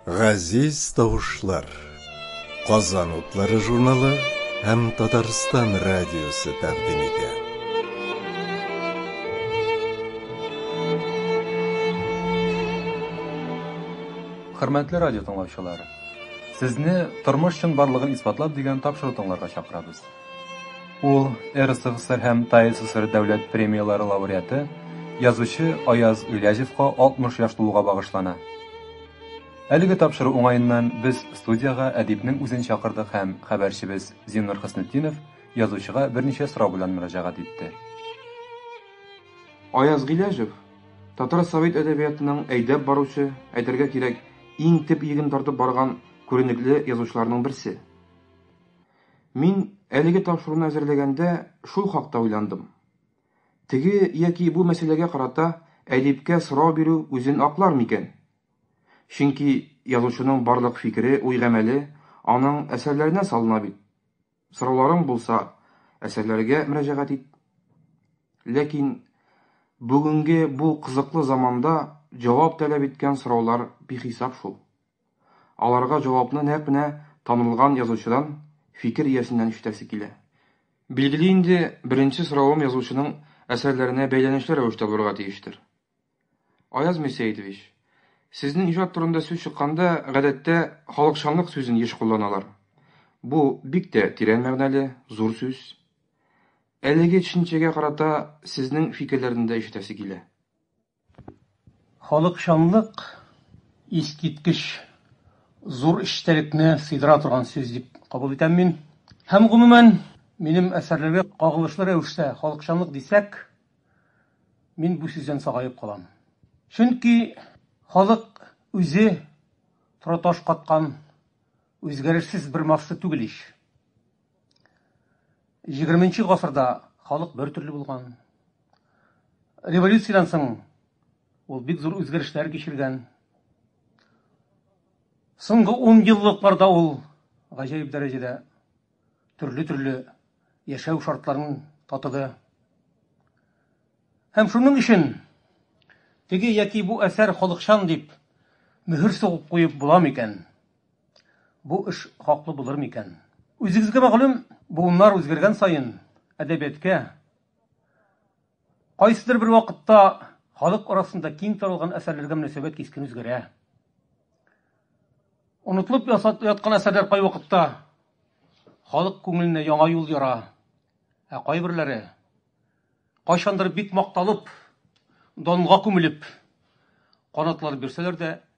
Газиз тавышлар. Казан утлары журналы һәм Татарстан радиосы тәкъдим итә. Хөрмәтле радио тыңлаучылар, сезне тормыш чынбарлыгын исбатлап дигән тапшыру тыңларга чакырабыз. Ул, РСФСР һәм ТАИССР дәүләт премияләре лауреаты, язучы Аяз Гыйләҗевка 60 яшь тулуга багышлана. Әлеге тапшыру уңаеннан без студиягә әдипнең үзен чакырдык һәм хәбәрчебез Зиннур Хөснетдинов язучыга берничә сорау белән мөрәҗәгать итте. Аяз Гыйләҗев, татар совет әдәбиятының әйдәп баручы, әйтергә кирәк, иң төп иген тартып барган күренекле язучыларның берсе. Мин әлеге тапшыруны әзерләгәндә шул хакта уйландым. Теге яки бу мәсьәләгә карата әдипкә сорау бирү үзен аклар микән? Чөнки язучының барлык фикере, уй-гамәле аның әсәрләренә салына бит. Сорауларың булса, әсәрләргә мөрәҗәгать ит. Ләкин бүгенге бу кызыклы заманда җавап таләп иткән сораулар бихисап шул. Аларга җавапны нәкъ менә танылган язучыдан, фикер иясеннән ишетәсе килә. Билгеле инде, беренче соравым язучының әсәрләренә бәйләнешле рәвештә булырга тиештер. Аяз Мирсәетович, сезнең иҗат турында сүз чыкканда, гадәттә, халыкчанлык сүзен еш кулланалар. Бу, бик тә тирән мәгънәле, зур сүз. Әлеге төшенчәгә карата сезнең фикерләрне дә ишетәсе килә. Халыкчанлык искиткеч зур эчтәлекне сыйдыра торган сүз дип кабул итәм мин. Һәм, гомумән, минем әсәрләргә кагылышлы рәвештә халыкчанлык дисәк, мин бу сүздән сагаеп калам. Чөнки халык үзе тораташ каткан үзгәрешсез бер масса түгел ич. 20 гасырда халык бер төрле булган. Революциядән соң ул бик зур үзгәрешләр кичергән. Соңгы 10 еллыкларда ул гаҗәеп дәрәҗәдә төрле-төрле яшәү шартларын татыды. Һәм шуның өчен теге яки бу әсәр халыкчан дип мөһер сугып куеп була микән? Бу эш хаклы булыр микән? Үзегезгә мәгълүм, буыннар үзгәргән саен, әдәбияткә, кайсыдыр бер вакытта халык арасында киң таралган әсәрләргә мөнәсәбәт кискен үзгәрә. Онытылып яткан әсәрләр кайвакытта халык күңеленә яңа юл яра, ә кайберләре, кайчандыр бик макталып, данга күмелеп, канатлар бирсәләр дә,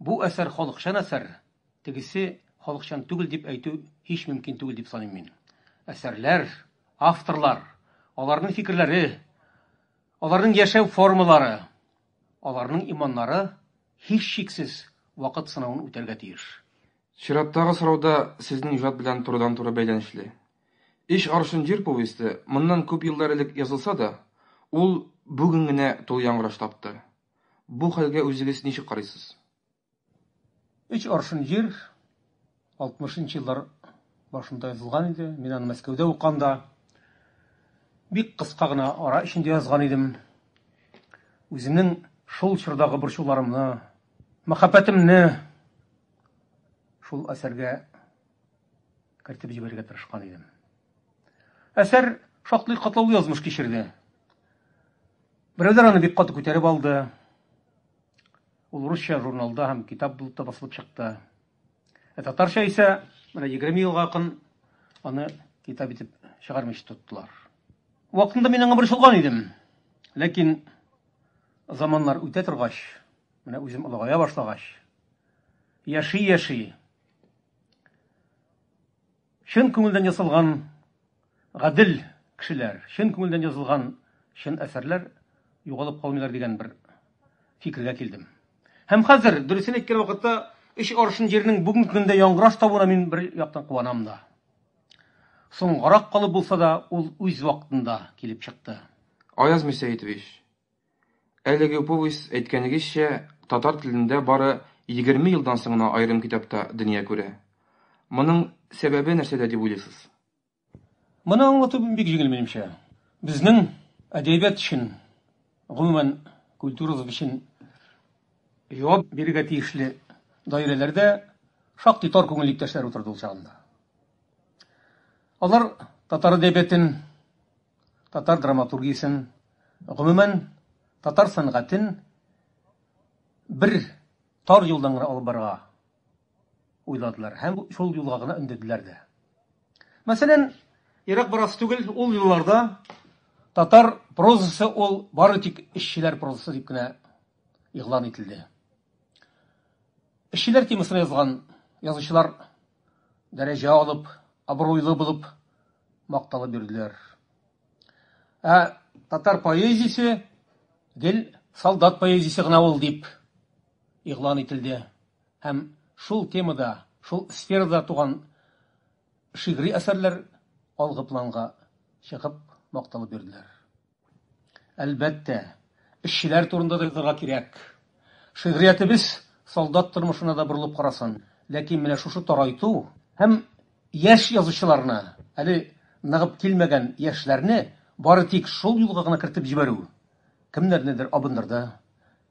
Бу әсәр халыкчан әсәр, тегесе халыкчан түгел дип әйтү һич мөмкин түгел дип саныйм мин. Әсәрләр, авторлар, аларның фикерләре, аларның яшәү формалары, аларның иманнары һичшиксез вакыт сынавын үтәргә тиеш. Чираттагы сорау да сезнең иҗат белән турыдан-туры бәйләнешле. Өч аршын җир повесте моннан күп еллар элек язылса да, ул бүген генә тулы яңгыраш тапты. Бу хәлгә үзегез ничек карыйсыз? Өч аршын җир 60 нчы еллар башында язылган иде. Мин аны Мәскәүдә уканда бик кыска гына ара эчендә язган идем. Үземнең шул чордагы борчуларымны, мәхәббәтемне шул әсәргә кертеп җибәрергә тырышкан идем. Әсәр шактый катлаулы язмыш кичерде. Берәүләр аны бик каты күтәреп алды. Ул русча журналда һәм китап булып та басылып чыкты. Ә татарча исә менә 20 елга якын аны китап итеп чыгармыйча тоттылар. Вакытында мин аңа борчылган идем. Ләкин заманнар үтә торгач, менә үзем олыгая башлагач, яши-яши Чын күңелдән ясалган гадел кешеләр, чын күңелдән язылган чын әсәрләр югалып калмыйлар дигән бер фикергә килдем. Һәм хәзер, дөресен әйткән вакытта, өч аршын җирнең бүгенге көндә яңгыраш табуына мин бер яктан куанам да. Соңгарак калып булса да, ул үз вакытында килеп чыкты. Аяз Мөсәетович! Әлеге повесть, әйткәнегезчә, татар телендә бары егерме елдан соң гына аерым китапта дөнья күрә. Моның сәбәбе нәрсәдә дип уйлыйсыз? Моны аңлату бик җиңел, минемчә. Безнең әдәбият өчен, гомумән, культурабыз өчен җавап бирергә тиешле даирәләрдә шактый тар күңелле иптәшләр утырды ул чагында. Алар татар әдәбиятын Татар драматургиясен, гомумән, татар сәнгатен бер тар юлдан гына алып барырга уйладылар һәм шул юлга гына өндәделәр дә. Мәсәлән, ерак барасы түгел, ул елларда татар прозасы ул бары тик эшчеләр прозасы дип кенә игълан ителде. Эшчеләр темасына язган язучылар дәрәҗә алып, абруйлы булып макталып йөрделәр. Ә татар поэзиясе гел солдат поэзиясе гына ул дип игълан ителде. Һәм шул темада, шул сферада туган шигъри әсәрләр алгы планга чыгып макталып йөрделәр. Әлбәттә, эшчеләр турында да язарга кирәк. Шигъриятебез солдат тормышына да борылып карасын. Ләкин менә шушы тарайту һәм яшь язучыларны, әле ныгып килмәгән яшьләрне бары тик шул юлга гына кертеп җибәрү, кемнәрнедер абындырды,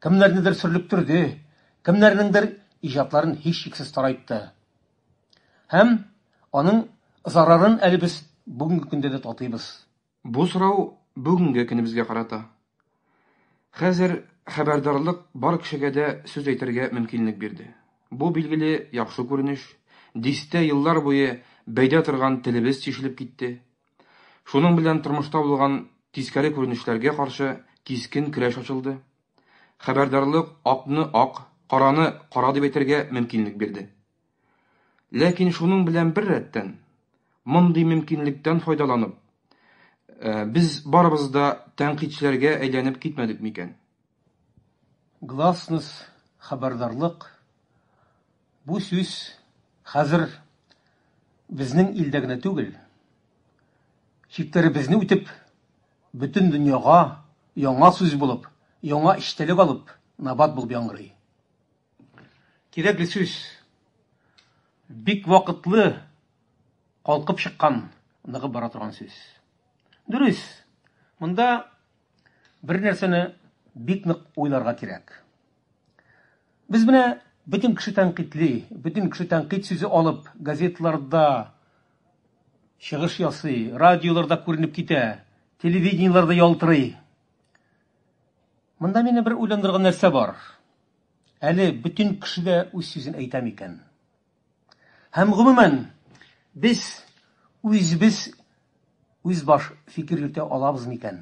кемнәрнедер сөрлектерде, кемнәрнеңдер иҗатларын һичшиксез тарайтты. Һәм аның зарарын әле без бүгенге көндә дә татыйбыз. Бу сорау бүгенге көнебезгә карата. Хәзер хәбәрдарлык бар кешегә дә сүз әйтергә мөмкинлек бирде. Бу, билгеле, яхшы күренеш. Дистә еллар буе бәйдә торган телебез тишелеп китте. Шуның белән тормышта булган тискәре күренешләргә каршы кискен көрәш ачылды. Хәбәрдарлык акны ак, караны кара дип әйтергә мөмкинлек бирде. Ләкин шуның белән бер рәттән, мондый мөмкинлектән файдаланып, э, без барыбыз да тәнкыйтьчеләргә әйләнеп китмәдек микән? Гласность, хәбәрдарлык. Бу сүз хәзер безнең илдә генә түгел, чикләребезне үтеп, бөтен дөньяга яңа сүз булып, яңа эчтәлек алып, набат булып яңгырый. Кирәкле сүз. Бик вакытлы калкып чыккан, ныгып бара торган сүз. Дөрес, монда бер нәрсәне бик нык уйларга кирәк. Без менә бөтен кеше тәнкыйтьли, бөтен кеше тәнкыйть сүзе алып газетларда чыгыш ясый, радиоларда күренеп китә, телевидениеләрдә ялтырый. Монда мине бер уйландырган нәрсә бар. Әле бөтен кеше дә үз сүзен әйтә микән? Һәм гомумән, без үзебез үзбаш фикер йөртә алабыз микән?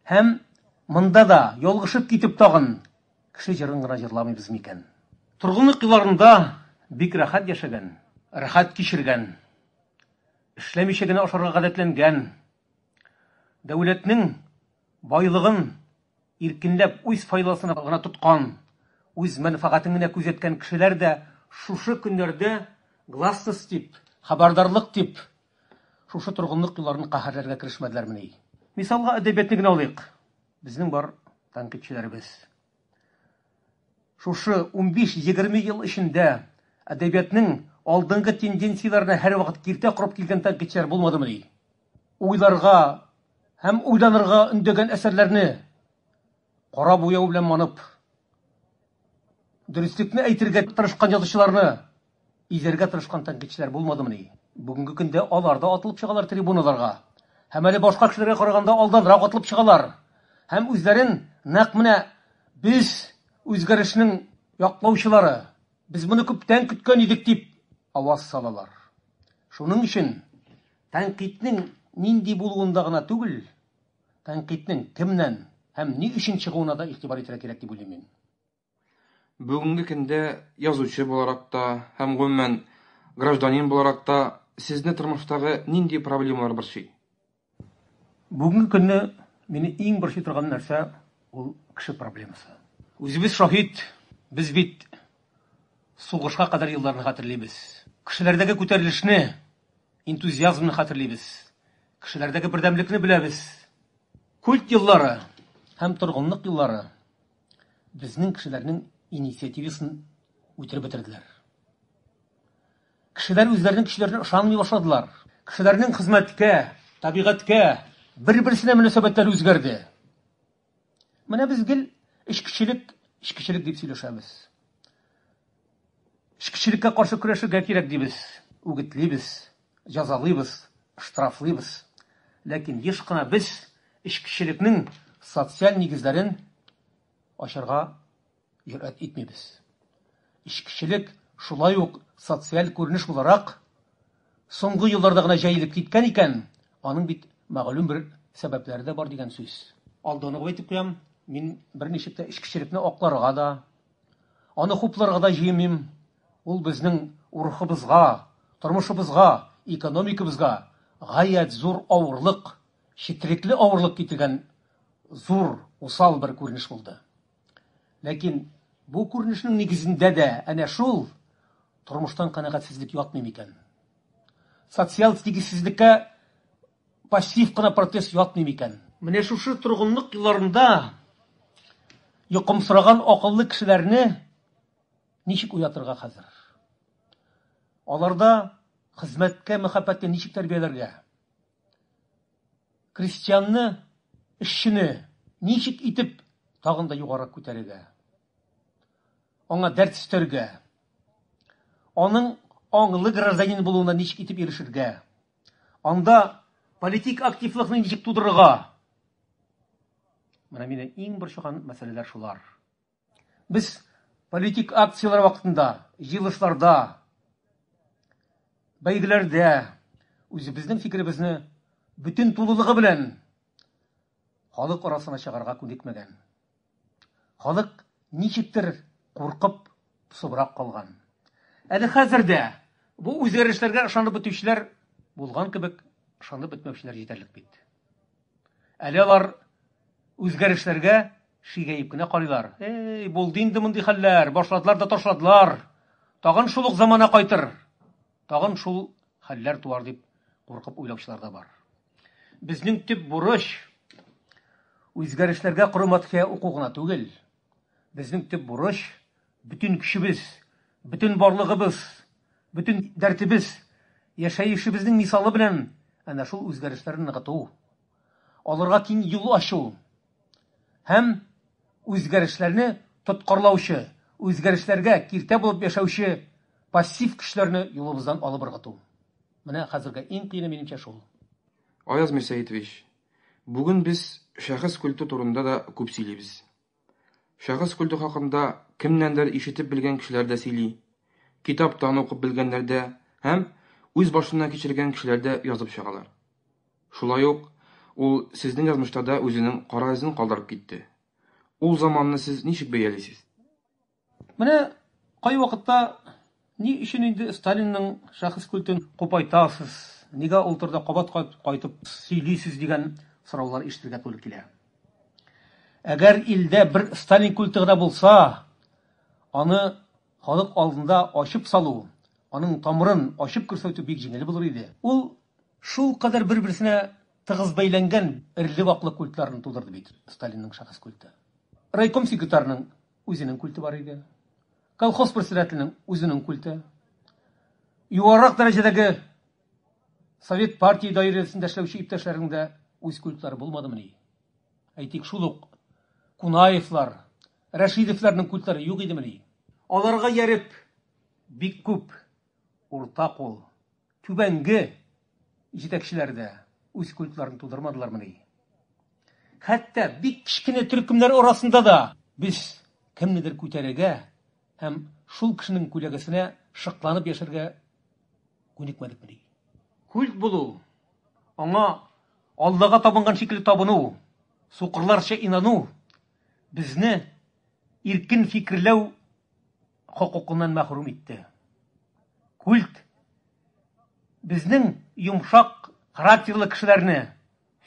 Һәм монда да ялгышып китеп тагын кеше җырын гына җырламыйбыз микән? Торгынлык елларында бик рәхәт яшәгән, рәхәт кичергән, эшләмичә генә ашарга гадәтләнгән, дәүләтнең байлыгын Иркенләп үз файдасына гына тоткан, үз мәнфәгатен генә күзәткән кешеләр дә шушы көннәрдә гласность дип, хәбәрдарлык дип, шушы торгынлык юлларын каһәрләргә керешмәделәрмени? Мисалга әдәбиятны генә алыйк. Безнең бар тәнкыйтьчеләребез. Шушы унбиш-егерме ел эчендә әдәбиятның алдынгы тенденцияләренә һәрвакыт киртә корып килгән тәнкыйтьчеләр булмадымыни? уйларга һәм уйланырга өндәгән әсәрләрне кара буяу белән манып, дөреслекне әйтергә тырышкан язучыларны изәргә тырышкан тәнкыйтьчеләр булмадымыни? Бүгенге көндә алар да атылып чыгалар трибуналарга һәм әле башка кешеләргә караганда алданрак атылып чыгалар һәм үзләрен нәкъ менә без үзгәрешнең яклаучылары, без моны күптән көткән идек дип аваз салалар. Шуның өчен Тәнкыйтьнең нинди булуында гына түгел, тәнкыйтьнең кемнән һәм ни өчен чыгуына да игътибар итәргә кирәк дип уйлыйм мин. Бүгенге көндә язучы буларак та һәм, гомумән, гражданин буларак та сезне тормыштагы нинди проблемалар борчый? Бүгенге көнне мине иң борчый торган нәрсә, ул кеше проблемасы. Үзебез шаһит, без бит сугышка кадәр елларны хәтерлибез. Кешеләрдәге күтәрелешне, энтузиазмны хәтерлибез, кешеләрдәге бердәмлекне беләбез. Культ еллары һәм торгынлык еллары безнең кешеләрнең инициативасын үтереп бетерделәр. Кешеләр үзләренең көчләренә ышанмый башладылар. Кешеләрнең хезмәткә, табигатькә, бер-берсенә мөнәсәбәтләре үзгәрде. Менә без гел эчкечелек, эчкечелек дип сөйләшәбез. Эчкечелеккә каршы көрәшергә кирәк дибез, үгетлибез, җәзалыйбыз, штрафлыйбыз. Ләкин еш кына без эчкечелекнең социаль нигезләрен ачарга Җөрьәт итмибез. Эчкечелек шулай ук социаль күренеш буларак соңгы елларда гына җәелеп киткән икән, аның бит мәгълүм бер сәбәпләре дә бар дигән сүз. Алдан ук әйтеп куям, мин берничек тә эчкечелекне акларга да, аны хупларга да җыенмыйм. Ул безнең рухыбызга, тормышыбызга, экономикабызга гаять зур авырлык, четерекле авырлык китергән зур, усал бер күренеш булды. Ләкин бу күренешнең нигезендә дә әнә шул тормыштан канәгатьсезлек ятмый микән? Социаль тигезсезлеккә пассив кына протест ятмый микән? Менә шушы торгынлык елларында йокымсыраган акыллы кешеләрне ничек уятырга хәзер? Аларда хезмәткә мәхәббәтне ничек тәрбияләргә? Крестьянны, эшчене ничек итеп тагын да югарырак күтәрергә, аңа дәрт өстәргә, аның аңлы гражданин булуына ничек итеп ирешергә, анда политик активлыкны ничек тудырырга, менә мине иң борчыган мәсьәләләр шулар. Без политик акцияләр вакытында, җыелышларда, бәйгеләрдә үзебезнең фикеребезне бөтен тулылыгы белән халык арасына чыгарга күнекмәгән. Халык ничектер куркып, псыбрак калган. Әле хәзер дә бу үзгәрешләргә ышанып бетүчеләр булган кебек, ышанып бетмәүчеләр җитәрлек бит. Әле алар үзгәрешләргә шигәеп кенә карыйлар. Эй, булды инде мондый хәлләр, башладылар да ташладылар. Тагын шул ук замана кайтыр. Тагын шул хәлләр туар дип куркып уйлаучылар да бар. Безнең төп бурыч үзгәрешләргә коры матхия уку гына түгел. Безнең төп бурыч Бөтен көчебез, бөтен барлыгыбыз, бөтен дәртебез, яшәешебезнең мисалы белән әнә шул үзгәрешләрне ныгыту, аларга киң юл ачу һәм үзгәрешләрне тоткарлаучы, үзгәрешләргә киртә булып яшәүче пассив көчләрне юлыбыздан алып ыргыту. Менә хәзергә иң кыены минемчә шул. Аяз Мирсәетович, бүген без шәхес культы турында да күп сөйлибез. Шәхес культы хакында кемнәндер ишетеп белгән кешеләр дә сөйли, китаптан укып белгәннәр дә һәм үз башыннан кичергән кешеләр дә язып чыгалар. Шулай ук ул сезнең язмышта да үзенең кара эзен калдырып китте. Ул заманны сез ничек бәялисез? Менә кайвакытта ни өчен инде Сталинның шәхес культын купайтасыз, нигә ул турыда кабат-кабат кайтып сөйлисез дигән сораулар ишетергә туры килә. Әгәр илдә бер Сталин культы гына булса, аны халык алдында ачып салу, аның тамырын ачып күрсәтү бик җиңел булыр иде. Ул шулкадәр бер-берсенә тыгыз бәйләнгән эрли-ваклы культларны тудырды бит Сталинның шәхес культы. Райком секретарының Үзенең культы бар иде. Колхоз председателенең үзенең культы. Югарырак дәрәҗәдәге совет партия даирәсендә эшләүче иптәшләрнең дә үз культлары булмадымыни? Әйтик, шул ук Кунаевлар, Рәшидовларның культлары юк идемени? Аларга ияреп, бик күп Урта кул, түбәнге җитәкчеләр дә үз культларын тудырмадылармыни? Хәтта бик кечкенә төркемнәр арасында да без кемнедер күтәрергә һәм шул кешенең күләгәсенә шыкланып яшәргә күнекмәдекмени? Культ булу, аңа Аллага табынган шикелле табыну, сукырларча инану безне иркен фикерләү хокукыннан мәхрүм итте. Культ безнең йомшак характерлы кешеләрне,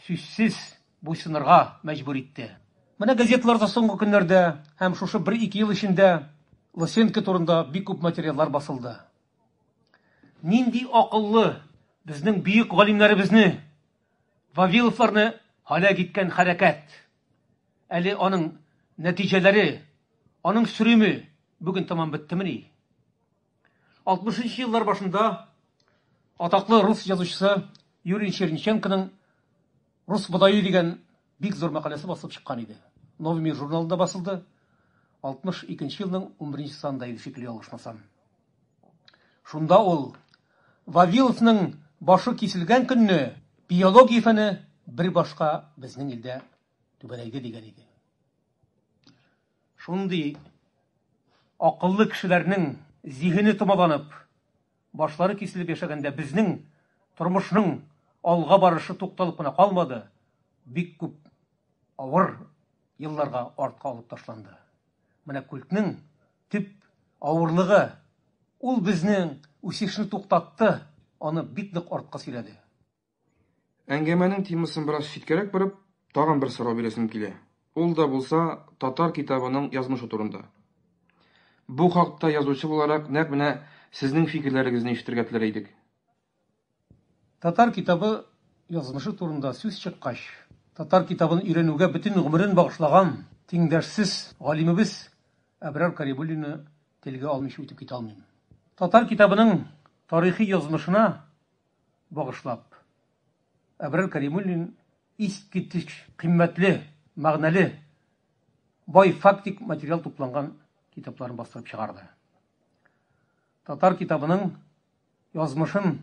сүзсез, буйсынырга мәҗбүр итте. Менә газеталарда соңгы көннәрдә һәм шушы бер-ике ел эчендә Лысенко турында бик күп материаллар басылды. Нинди акыллы, безнең бөек галимнәребезне, Вавиловларны һәлак иткән хәрәкәт! Әле аның нәтиҗәләре, аның сөриме бүген тәмам беттемени? 60 нчы еллар башында атаклы рус язучысы Юрий Черниченконың Рус бодае дигән бик зур мәкаләсе басылып чыккан иде. Новый мир журналында басылды. 62 елның 11 нче санында иде шикелле ялгышмасам. Шунда ул, Вавиловның башы киселгән көнне биология фәне бер башка безнең илдә түбәнәйде дигән иде. Шундый акыллы кешеләрнең зиһене томаланып, башлары киселеп яшәгәндә безнең тормышның алга барышы тукталып кына калмады, бик күп Авыр елларга артка алып ташланды. Менә культның төп авырлыгы, ул безнең үсешне туктатты, аны бик нык артка сөйрәде. Әңгәмәнең темасын бераз читкәрәк борып, тагын бер сорау бирәсем килә. Ул да булса татар китабының язмышы турында. Бу хакта язучы буларак нәкъ менә сезнең фикерләрегезне ишетергә теләр идек. Татар китабы язмышы турында сүз чыккач, татар китабын өйрәнүгә бөтен гомерен багышлаган тиңдәшсез галимебез Әбрар Карибуллинны телгә алмыйча үтеп китә алмыйм. Татар китабының тарихи язмышына багышлап, Әбрар Каримуллин искиткеч кыйммәтле, мәгънәле, бай фактик материал тупланган китапларын бастырып чыгарды. Татар китабының язмышын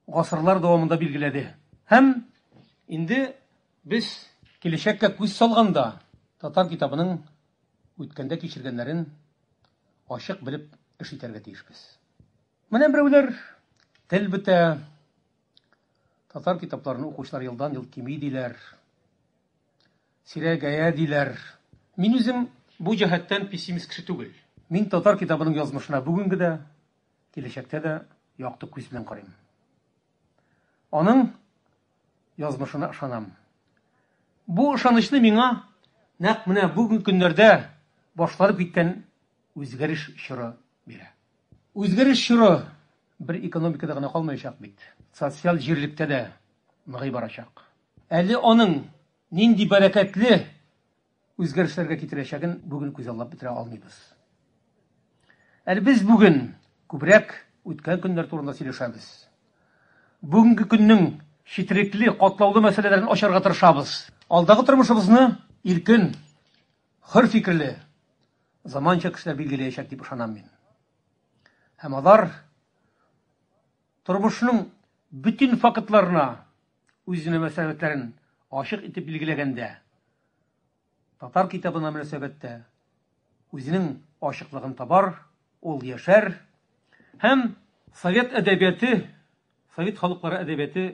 гасырлар дәвамында билгеләде. Һәм инде без киләчәккә күз салганда, татар китабының үткәндә кичергәннәрен ачык белеп эш итәргә тиешбез. Менә берәүләр тел бетә, татар китапларын укучылар елдан-ел кими диләр, сирәгәя диләр. Мин үзем бу җәһәттән пессимист кеше түгел. Мин татар китабының язмышына бүгенге дә, Киләчәктә дә якты күз белән карыйм. Аның язмышына ышанам. Бу ышанычны миңа нәкъ менә бүген көннәрдә башланып киткән үзгәреш чоры бирә. Үзгәреш чоры бер экономикада гына калмаячак бит. Социаль җирлектә дә ныгый барачак. Әле аның нинди бәрәкәтле үзгәрешләргә китерәчәген бүген күзаллап бетерә алмыйбыз. Әле без бүген күбрәк үткән көннәр турында сөйләшәбез. Бүгенге көннең четерекле, катлаулы мәсьәләләрен ачарга тырышабыз. Алдагы тормышыбызны иркен, хөр фикерле, заманча кешеләр билгеләячәк дип ышанам мин. Һәм алар тормышның бөтен фактларына Үз мөнәсәбәтләрен ачык итеп билгеләгәндә, татар китабына мөнәсәбәттә үзенең ачыклыгын табар, ул яшәр һәм совет әдәбияты, совет халыклары әдәбияты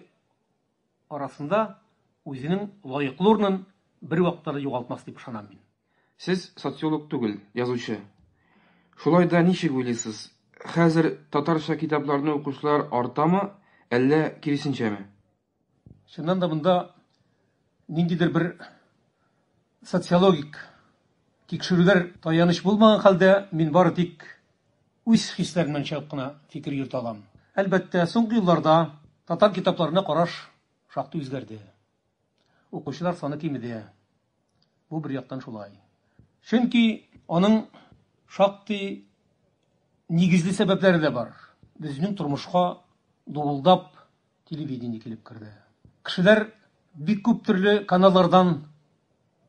арасында үзенең лаеклы урынын бервакытта да югалтмас дип ышанам мин. Сез социолог түгел, язучы. Шулай да ничек уйлыйсыз, хәзер татарча китапларны укучылар артамы, әллә киресенчәме? Чыннан да монда ниндидер бер социологик тикшерүләр таяныч булмаган хәлдә, мин бары тик үз хисләремнән чыгып кына фикер йөртә алам. Әлбәттә, соңгы елларда татар китапларына караш шактый үзгәрде. Укучылар саны кимеде. Бу бер яктан шулай. Чөнки аның шактый нигезле сәбәпләре дә бар. Безнең тормышка дубылдап телевидение килеп керде. Кешеләр бик күп төрле каналлардан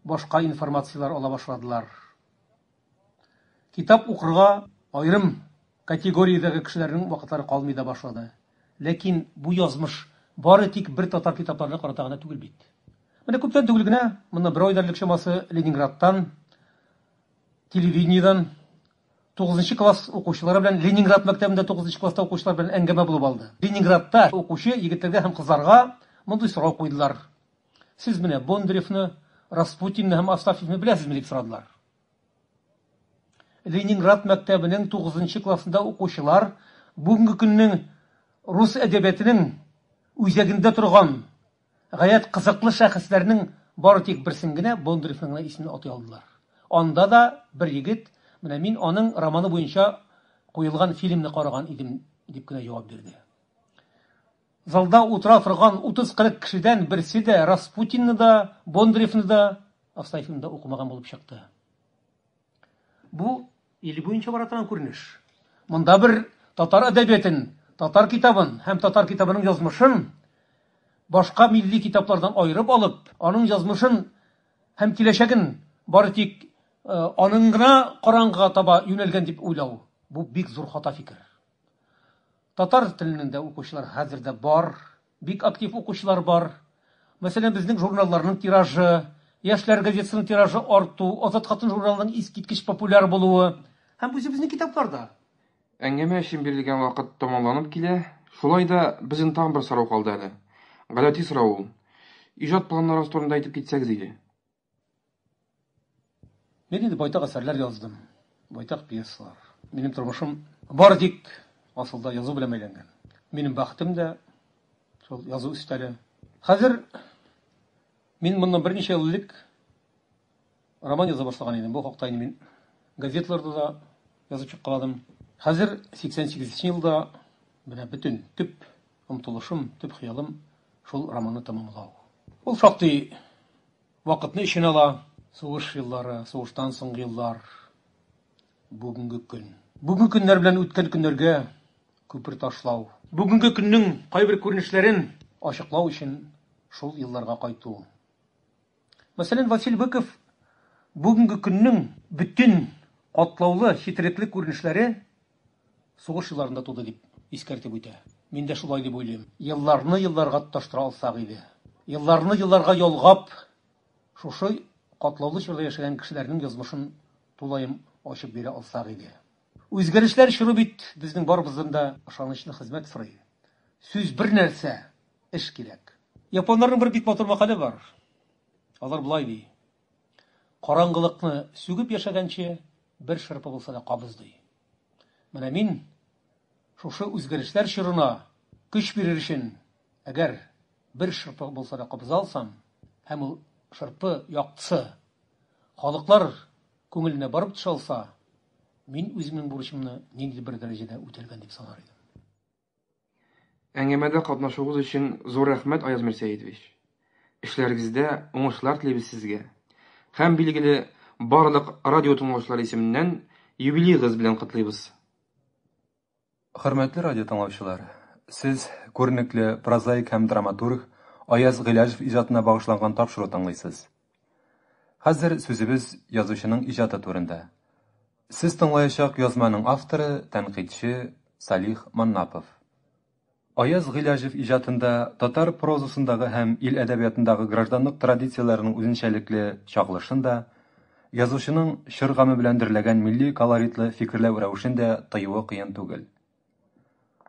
башка информацияләр ала башладылар. Китап укырга аерым категориядәге кешеләрнең вакытлары калмый да башлады. Ләкин бу язмыш бары тик бер татар китапларына карата гына түгел бит. Менә күптән түгел генә, моннан бер ай элек чамасы, Ленинградтан, телевидениедән тугызынчы класс укучылары белән Ленинград мәктәбендә тугызынчы класста укучылар белән әңгәмә булып алды. Ленинградта укучы егетләргә һәм кызларга мондый сорау куйдылар. Сез менә Бондаревны, Распутинны һәм Астафьевны беләсезме? дип сорадылар. Ленинград мәктәбенең тугызынчы классында укучылар бүгенге көннең рус әдәбиятының үзәгендә торган гаять кызыклы шәхесләрнең бары тик берсен генә, Бондаревның гына исемен атый алдылар. Анда да бер егет, Менә мин аның романы буенча куелган фильмны караган идем, дип кенә җавап бирде. Залда утыра торган 30-40 кешедән берсе дә Распутинны да, Бондаревны да, Астафьевны да укымаган булып чыкты. Бу ил буенча бара торган күренеш. Монда бер татар әдәбиятен, татар китабын һәм татар китабының язмышын башка милли китаплардан аерып алып, аның язмышын һәм киләчәген бары тик э, аның гына караңгыга таба юнәлгән дип уйлау, бу бик зур хата фикер. Татар теленең дә укучылар хәзер дә бар, бик актив укучылар бар. Мәсәлән, безнең журналларның тиражы, Яшьләр газетасының тиражы арту, Азат хатын журналының искиткеч популяр булуы һәм үзебезнең китаплар да. Әңгәмә өчен бирелгән вакыт тәмамланып килә. Шулай да безнең тагын бер сорау калды әле. Гадәти сорау ул. Иҗат планнарыгыз турында әйтеп китсәгез иде. Мин инде байтак әсәрләр яздым, байтак пьесалар. Минем тормышым бары тик асылда язу белән бәйләнгән. Минем бәхетем дә шул язу өстәле. Хәзер мин моннан берничә ел элек роман яза башлаган идем. Бу хакта инде мин газетларда да язып чыккаладым. Хәзер 88 елда менә бөтен төп омтылышым, төп хыялым шул романны тәмамлау. Ул шактый Вакытны эченә ала. Сугыш еллары, сугыштан соңгы еллар, бүгенге көн. Бүгенге көннәр белән үткән көннәргә күпер ташлау. Бүгенге көннең кайбер күренешләрен ачыклау өчен шул елларга кайту. Мәсәлән, Василь Быков бүгенге көннең бөтен катлаулы, четерекле күренешләре, Сугыш елларында туды, дип искәртеп үтә. Мин дә шулай дип уйлыйм. Елларны елларга тоташтыра алсак иде. Елларны елларга ялгап, шушы катлаулы чорда яшәгән кешеләрнең язмышын тулаем ачып бирә алсак иде. Үзгәрешләр чоры бит безнең барыбыздан да ышанычлы хезмәт сорый. Сүз бер нәрсә, эш кирәк. Японнарның бер бик матур мәкале бар. Алар болай ди. Караңгылыкны сүгеп яшәгәнче, бер шырпы булса да кабыз, ди. Менә мин шушы үзгәрешләр чорына көч бирер өчен, әгәр бер шырпы булса да кабыза алсам, һәм ул шырпы яктысы халыклар күңеленә барып төшә алса, мин үземнең бурычымны ниндидер бер дәрәҗәдә үтәлгән дип санар идем. Әңгәмәдә катнашуыгыз өчен зур рәхмәт, Аяз Мирсәидович. Эшләрегездә уңышлар телибез сезгә. Һәм, билгеле, барлык радио тыңлаучылары исеменнән юбилеегыз белән котлыйбыз. Хөрмәтле радио тыңлаучылар, сез күренекле прозаик һәм драматург Аяз Гыйләҗев иҗатына багышланган тапшыру тыңлыйсыз. Хәзер сүзебез язучының иҗаты турында. Сез тыңлаячак язманың авторы, тәнкыйтьче Салих Маннапов. Аяз Гыйләҗев иҗатында татар прозасындагы һәм ил әдәбиятындагы гражданлык традицияләренең үзенчәлекле чагылышын да, язучының чор гаме белән дөрләгән милли колоритлы фикерләү рәвешен дә тыюы кыен түгел.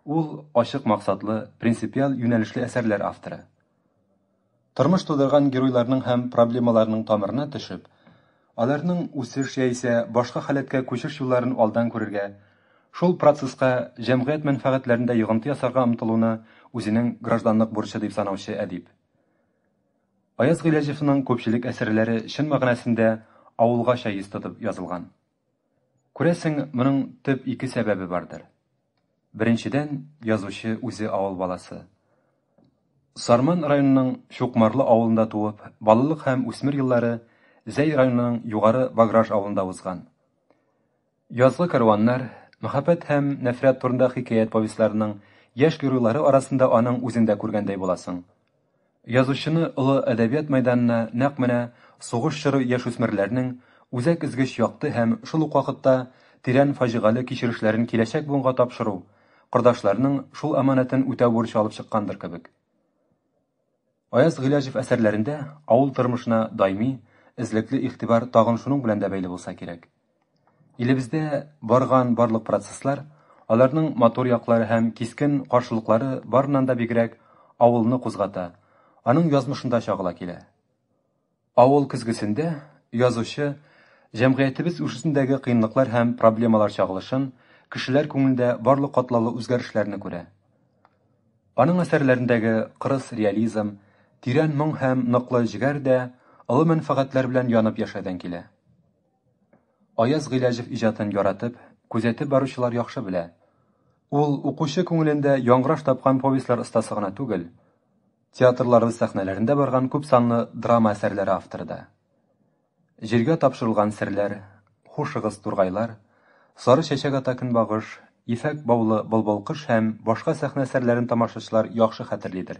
Ул, ачык максатлы, принципиаль юнәлешле әсәрләр авторы. Тормыш тудырган геройларның һәм проблемаларның тамырына төшеп, аларның үсеш яисә башка халәткә күчеш юлларын алдан күрергә, шул процесска җәмгыять мәнфәгатьләрендә йогынты ясарга омтылуны үзенең гражданлык бурычы дип санаучы әдип. Аяз Гыйләҗевның күпчелек әсәрләре чын мәгънәсендә авылгача йөз тотып язылган. Күрәсең, моның төп ике сәбәбе бардыр. Беренчедән, язучы үзе авыл баласы. Сарман районының Чукмарлы авылында туып, балалык һәм үсмер еллары Зәй районының Югары Баграж авылында узган. Язгы кәрваннар, мәхәббәт һәм нәфрәт турында хикәят повестьларының яшь геройлары арасында аның үзен дә күргәндәй буласың. Язучыны олы әдәбият мәйданына нәкъ менә сугыш чоры яшүсмерләрнең үзәк өзгеч якты һәм, шул ук вакытта, тирән фаҗигале кичерешләрен киләчәк буынга тапшыру, кордашларның шул аманәтен үтәү бурычы алып чыккандыр кебек. Аяз Гыйләҗев әсәрләрендә авыл тормышына даими, эзлекле игътибар тагын шуның белән дә бәйле булса кирәк. Илебездә барган барлык процесслар, аларның матур яклары һәм кискен каршылыклары барыннан да бигрәк авылны кузгата, аның язмышында чагыла килә. Авыл көзгесендә язучы җәмгыятебез үсешендәге кыенлыклар һәм проблемалар чагылышын, кешеләр күңелендә барлык катлаулы үзгәрешләрне күрә. Аның әсәрләрендәге кырыс реализм, тирән моң һәм ныклы җегәр дә олы мәнфәгатьләр белән янып яшәүдән килә. Аяз Гыйләҗев иҗатын яратып, күзәтеп баручылар яхшы белә. Ул укучы күңелендә яңгыраш тапкан повестьлар остасы гына түгел, театрларыбыз сәхнәләрендә барган күпсанлы драма әсәрләре авторы да. Җиргә тапшырылган серләр, Хушыгыз, тургайлар, Сары чәчәк ата көнбагыш, Ефәк баулы былбылкыш һәм башка сәхнә әсәрләрен тамашачылар яхшы хәтерлидер.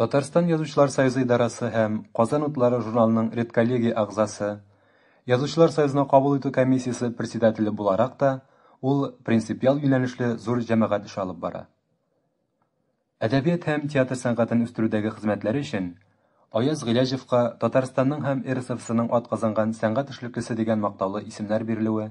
Татарстан Язучылар союзы идарәсе һәм Казан утлары журналының редколлегия әгъзасы, Язучылар союзына кабул итү комиссиясе председателе буларак та ул принципиаль юнәлешле зур җәмәгать эше алып бара. Әдәбият һәм театр сәнгатен үстерүдәге хезмәтләре өчен Аяз Гыйләҗевка Татарстанның һәм РСФСРның атказанган сәнгать эшлеклесе дигән мактаулы исемнәр бирелүе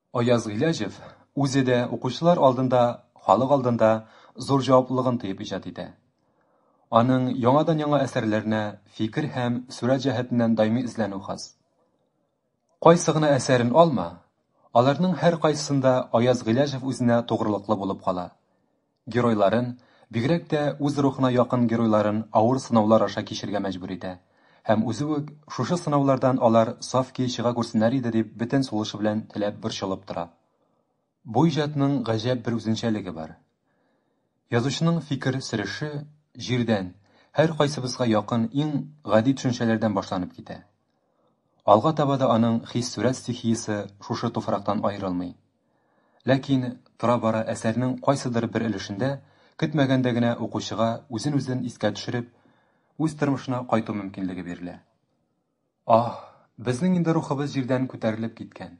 Аяз Гыйләҗев үзе дә укучылар алдында, халык алдында зур җаваплылыгын тоеп иҗат итә. Аның яңадан-яңа әсәрләренә фикер һәм сурәт җәһәтеннән даими эзләнү хас. Кайсы гына әсәрен алма, аларның һәркайсысында Аяз Гыйләҗев үзенә тугрылыклы булып кала. геройларын, бигрәк тә үз рухына якын геройларын авыр сынаулар аша кичергә мәҗбүр итә. Һәм үзе үк, шушы сынаулардан алар саф көе чыга күрсеннәр иде дип бөтен сулышы белән теләп борчылып тора. Бу иҗатның гаҗәп бер үзенчәлеге бар. Язучының фикер сөреше, җирдән, һәркайсыбызга якын иң гади төшенчәләрдән башланып китә. Алга таба да аның хис-сурәт стихиясе шушы туфрактан аерылмый. Ләкин, тора-бара әсәрнең кайсыдыр бер өлешендә, көтмәгәндә генә укучыга үзен-үзен искә төшереп, үз тормышына кайту мөмкинлеге бирелә. Аһ, безнең инде рухыбыз җирдән күтәрелеп киткән.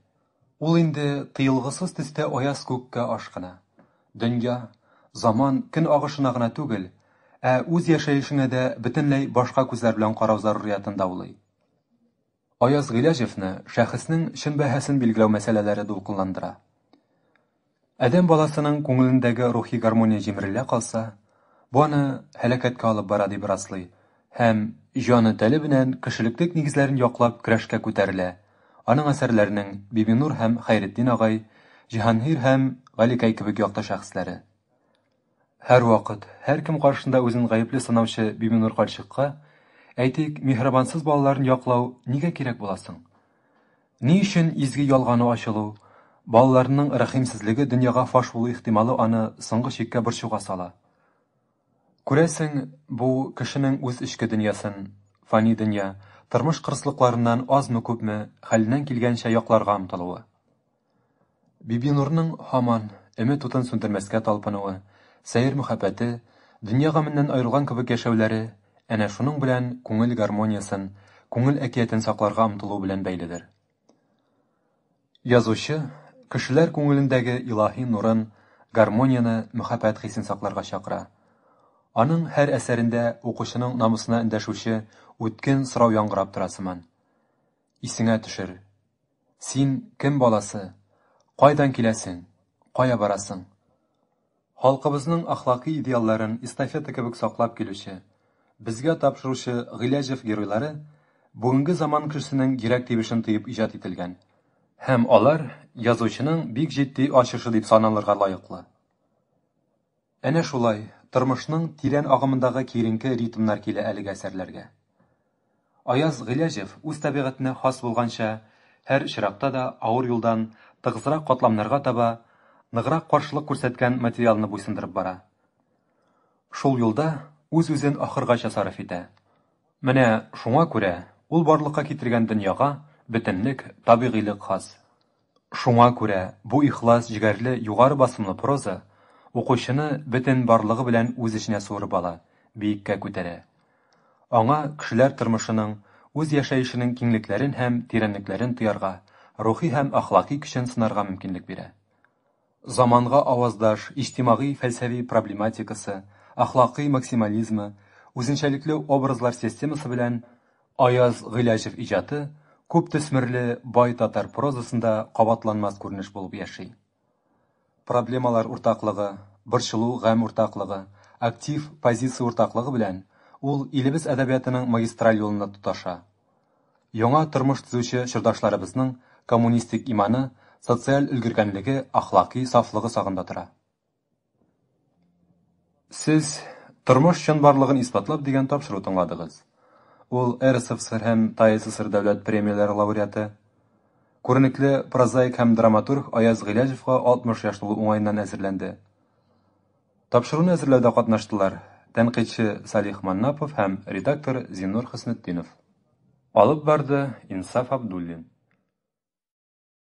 Ул инде тыелгысыз төстә аяз күккә ашкына. Дөнья, заман, көн агышына гына түгел, ә үз яшәешенә дә бөтенләй башка күзләр белән карау заруриятен даулый. Аяз Гыйләҗевны шәхеснең чын бәһасен билгеләү мәсьәләләре дулкынландыра. Адәм баласының күңелендәге рухи гармония җимерелә калса, бу аны һәлакәткә алып бара дип раслый һәм җаны-тәне белән кешелектек нигезләрен яклап көрәшкә күтәрелә, аның әсәрләренең Бибинур һәм Хәйретдин агай, Җиһангир һәм Галикәй кебек якты шәхесләре. Һәрвакыт, һәркем каршында үзен гаепле санаучы Бибинур карчыкка, әйтик, миһербансыз балаларын яклау нигә кирәк була соң? Ни өчен изге ялгану ачылу, балаларының рәхимсезлеге дөньяга фаш булу ихтималы аны соңгы чиккә борчуга сала? Күрәсең, бу, кешенең үз эчке дөньясын, фани дөнья, тормыш кырыслыкларыннан азмы-күпме, хәленнән килгәнчә якларга омтылуы. Бибинурның һаман өмет утын сүндермәскә талпынуы, сәер мөхәббәте, дөнья гаменнән аерылган кебек яшәүләре әнә шуның белән күңел гармониясен, күңел әкиятен сакларга омтылу белән бәйледер. Язучы кешеләр күңелендәге илаһи нурын, гармонияне, мөхәббәт хисен сакларга чакыра. Аның һәр әсәрендә укучының намусына эндәшүче үткен сорау яңгырап тора сыман. Исеңә төшер. Син кем баласы? Кайдан киләсең? Кая барасың? Халкыбызның әхлакый идеалларын эстафета кебек саклап килүче, безгә тапшыручы Гыйләҗев геройлары бүгенге заман кешесенең йөрәк тибешен тоеп иҗат ителгән һәм алар язучының бик җитди ачышы дип саналырга лаеклы. Әнә шулай, тормышның тирән агымындагы киеренке ритмнар килә әлеге әсәрләргә. Аяз Гыйләҗев үз табигатенә хас булганча, һәр очракта да авыр юлдан тыгызрак катламнарга таба ныграк каршылык күрсәткән материалны буйсындырып бара. Шул юлда үз-үзен ахыргача сарыф итә. Менә шуңа күрә ул барлыкка китергән дөньяга бөтенлек, табигыйлык хас. Шуңа күрә бу ихлас җегәрле югары басымлы проза укучыны бөтен барлыгы белән үз эченә суырып ала, биеккә күтәрә. Аңа кешеләр тормышының, үз яшәешенең киңлекләрен һәм тирәнлекләрен тоярга, рухи һәм әхлакый көчен сынарга мөмкинлек бирә. Заманга аваздаш иҗтимагый-фәлсәви проблематикасы, әхлакый максимализмы, үзенчәлекле образлар системасы белән Аяз Гыйләҗев иҗаты күптөсмерле бай татар прозасында кабатланмас күренеш булып яши. Проблемалар уртаклыгы, борчылу-гамь уртаклыгы, актив позиция уртаклыгы белән ул илебез әдәбиятының магистраль юлында тоташа. Яңа тормыш төзүче чордашларыбызның коммунистик иманы, социаль өлгергәнлеге, ахлакый сафлыгы сагында тора. Сез Тормыш чынбарлыгын исбатлап дигән тапшыру тыңладыгыз. Ул РСФСР һәм ТАССР дәүләт премияләре лауреаты, күренекле прозаик һәм драматург Аяз Гыйләҗевка 60 яшь тулу уңаеннан әзерләнде. Тапшыруны әзерләүдә катнаштылар тәнкыйтьче Салих Маннапов һәм редактор Зиннур Хөснетдинов. Алып барды Инсаф Абдуллин.